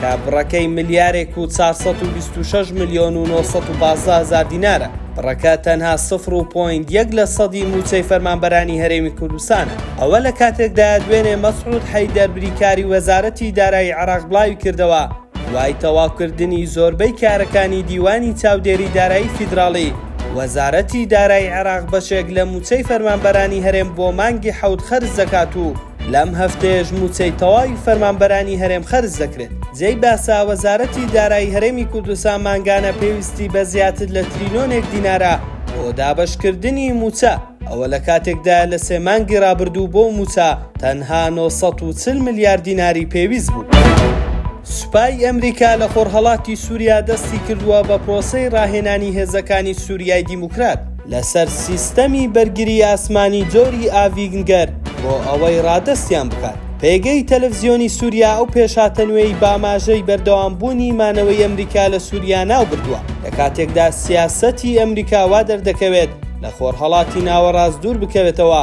کە بڕەکەی ملیارێک و چار سەد و بیست و شەش ملیۆن و نۆ سەد و پازدە هەزار دینارە، بڕەکە تەنها سفر و پۆینت یەک لە سەدی مووچەی فەرمانبەرانی هەرێمی کوردستانە. ئەوە لە کاتێکدایە دوێنێ مەسعود حەیدەر بریکاری وەزارەتی دارایی عێراق بڵاوی کردەوە، دوای تەواوکردنی زۆربەی کارەکانی دیوانی چاودێری دارایی فیدراڵی، وەزارەتی دارایی عێراق بەشێک لە مووچەی فەرمانبەرانی هەرێم بۆ مانگی حەوت خەرج دەکات و لەم هەفتەیەش مووچەی تەواوی فەرمانبەرانی هەرێم خەرج دەکرێت. جێی باسە، وەزارەتی دارایی هەرێمی کوردستان مانگانە پێویستی بە زیاتر لە تریلۆنێک دینارە بۆ دابەشکردنی مووچە، ئەوە لە کاتێکدایە لە سێ مانگی رابردوو بۆ مووچە تەنها نۆ سەد و چل ملیار دیناری پێویست بوو. سوپای ئەمریکا لە خۆرهەڵاتی سووریا دەستی کردووە بە پرۆسەی راهێنانی هێزەکانی سووریای دیموکرات. لەسەر سیستەمی بەرگری ئاسمانی جۆری ئاڤینگەر بۆ ئەوەی ڕادەستیان بکات. پێگەی تەلەفزیۆنی سوریا ئەو پێشهاتە نوێی باماژەی بەردەوامبوونی مانەوەی ئەمریکا لە سوریا ناوبردووە، لە کاتێکدا سیاسەتی ئەمریکا وا دەردەکەوێت لە خۆرهەڵاتی ناوەڕاست دووربکەوێتەوە،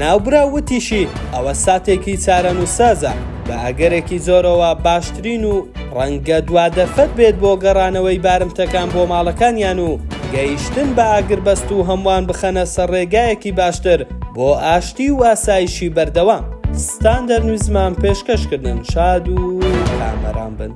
ناوبراو وتیشی، ئەوە ساتێکی چارەنووسسازە، بە ئەگەرێکی زۆرەوە باشترین و ڕەنگە دوا دەرفەت بێت بۆ گەڕانەوەی بارمتەکان بۆ ماڵەکانیان و گەیشتن بە ئاگربەست و هەمووان بخەنە سەر ڕێگایەکی باشتر بۆ ئاشتی و ئاسایشی بەردەوام. ستاندەر نویزمان پێشکەشکردن شاد و کامەران بن.